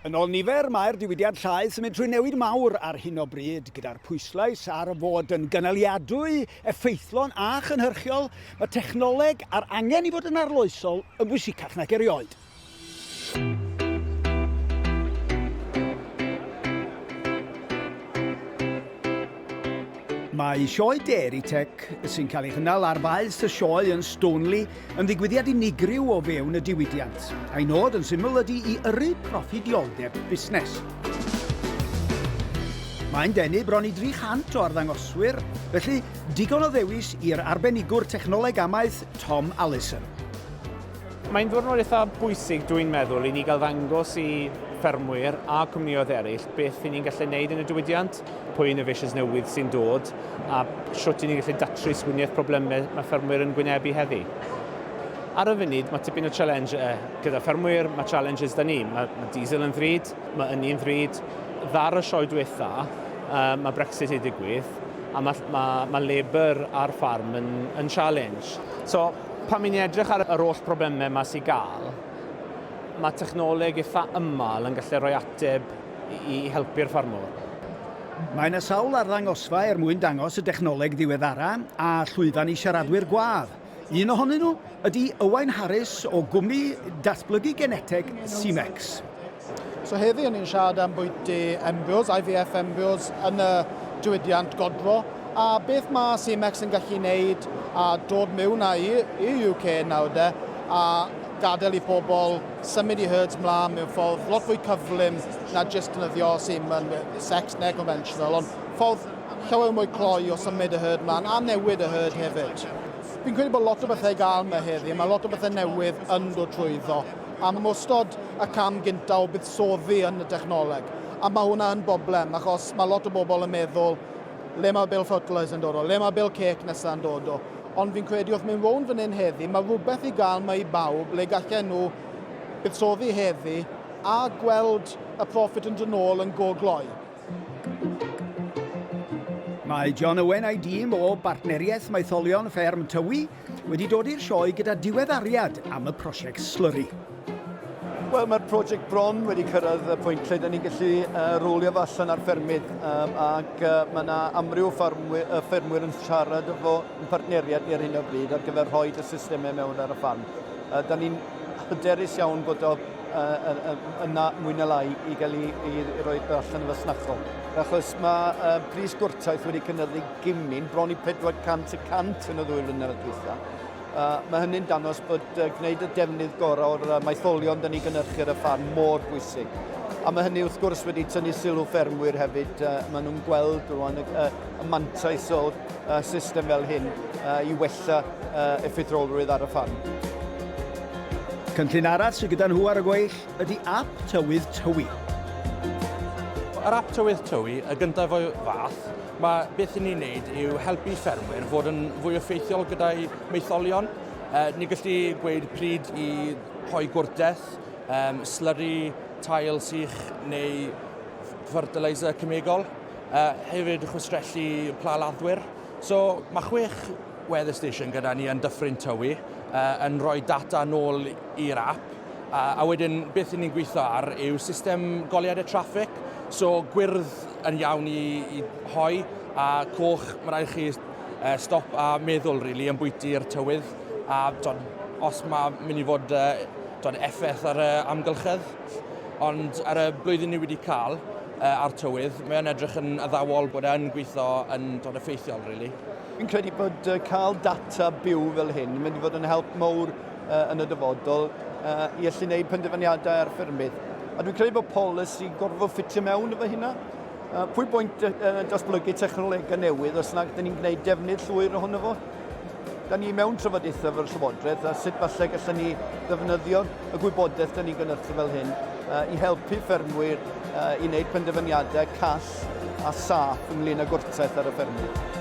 Yn ôl nifer, mae'r diwydiant llaeth yn mynd trwy newid mawr ar hyn o bryd, gyda'r pwyslais ar fod yn gynaliadwy, effeithlon a chynhyrchiol, mae technoleg a'r angen i fod yn arloesol yn bwysicach nag erioed. Mae Sioe Dairy Tech, sy'n cael ei chynnal ar faes y Sioe yn Stoneleigh, yn ddigwyddiad unigryw o fewn y diwydiant, a'i nod yn syml ydy i yrru proffidioldeb busnes. Mae'n denu bron i 300 o arddangoswyr, felly digon o ddewis i'r arbenigwr technoleg amaeth Tom Allison. Mae'n ddiwrnod eitha bwysig dwi'n meddwl i ni gael ddangos i ffermwyr a cwmnïoedd eraill beth i ni'n gallu neud yn y diwydiant. pwy innovations newydd sy'n dod a shwt i ni'n gallu datrys winiaeth problemau mae ffermwyr yn gwynebu heddi. Ar y funud, mae tipyn o challenge uh, gyda ffermwyr, mae challenges da ni. Mae, mae diesel yn ddrud, mae ynni yn ddrud. Ddar y sioe diwetha, uh, mae Brexit i digwydd, a mae, mae, mae labour ar ffarm yn, yn challenge. So, pan mi'n edrych ar yr holl problemau mae sy'n gael, mae technoleg eitha ymal yn gallu rhoi ateb i helpu'r ffarmwr. Mae yna sawl arddangosfa er mwyn dangos y dechnoleg ddiweddara a llwyfan i siaradwyr gwadd. Un ohonyn nhw ydy Owain Harris o gwmni datblygu geneteg Seamex. So heddi ni'n siarad am bwyty embryos, IVF embryos yn y diwydiant godro a beth mae Seamex yn gallu wneud a dod mewn â i i'r UK nawr de a gadael i pobl symud i herds mlaen mewn ffordd lot fwy cyflym na jyst defnyddio semen, sex neu conventional, ond ffordd llawer mwy cloi o symud y herd mlaen a newid y herd hefyd. Fi'n credu bod lot o bethau i gael yma heddi, mae lot o bethau newydd yn dod trwyddo, a mae ystod y cam gyntaf o buddsoddi yn y dechnoleg, a mae hwnna yn boblem, achos mae lot o bobl yn meddwl, le mae Bill Fertilizer yn dod o, le mae Bill Cake nesaf yn dod o, Ond fi'n credu wrth mynd rownd fan hyn heddi, mae rhywbeth i gael mae i bawb le gallen nhw buddsoddi heddi a gweld y profit yn dod ôl yn go gloi. Mae John Owen a'i dîm o Bartneriaeth Maetholion Fferm Tywi wedi dod i'r sioe gyda diweddariad am y prosiect Slurry. Wel, mae'r prosiect bron wedi cyrraedd y pwynt lle da ni'n gallu uh, rowlio fo allan ar ffermydd um, ac uh, mae yna amryw ffermwyr, uh, ffermwyr yn siarad efo yn partneriaid ni ar hyn o bryd ar gyfer rhoi y systemau mewn ar y ffarm. Uh, da ni'n hyderus iawn bod o uh, yna mwy na lai i gael ei, ei, ei roi allan efo snachol. Achos mae uh, pris gwrtaeth wedi cynyddu gymyn, bron i 400 y cant yn y ddwy flynedd diwetha. Uh, mae hynny'n dangos bod uh, gwneud y defnydd gorau o'r uh, maetholion dyn ni gynnyrchu ar y ffarm mor bwysig. A mae hynny wrth gwrs wedi tynnu sylw ffermwyr hefyd. Uh, maen nhw'n gweld rwan y, uh, y mantais o'r uh, system fel hyn uh, i wella uh, effeithrolrwydd ar y ffarm. Cynllun arall sydd gyda nhw ar y gweill ydy ap tywydd tywi. Yr ap tywydd tywi, y gyntaf o'i fath, Mae beth i ni'n wneud yw helpu ffermwyr fod yn fwy effeithiol gyda'i maetholion. E, ni gallu gweud pryd i rhoi gwrtaith, um, slyri, tail sych neu fertiliser cemegol. E, hefyd chwistrellu pla laddwyr. So mae chwech weather station gyda ni yn Dyffryn Tywi e, yn rhoi data nôl i'r app. A, a wedyn beth i ni'n gweithio ar yw system goliadau traffig. So gwyrdd yn iawn i, i hoi, a coch, mae rhaid chi uh, stop a meddwl, really, yn bwyty'r tywydd, a dod, os mae mynd i fod uh, dod, effaith ar y amgylchedd. Ond ar y blwyddyn ni wedi cael uh, a'r tywydd, mae'n edrych yn addawol bod e'n gweithio yn dod effeithiol, really. Fi'n credu bod uh, cael data byw fel hyn yn mynd i fod yn help mowr yn y dyfodol i allu gwneud penderfyniadau ar ffermydd. A dwi'n credu bod polisi gorfod ffitio mewn efo hynna. Pwy bwynt datblygu technolegau newydd os nad ydyn ni'n gwneud defnydd llwyr ohono fo? Da ni mewn trafodaethau efo'r Llywodraeth a sut falle gallen ni ddefnyddio y gwybodaeth da ni'n gynnyrthu fel hyn uh, i helpu ffermwyr uh, i wneud penderfyniadau call a saff ynglyn â gwrtaith ar y ffermydd.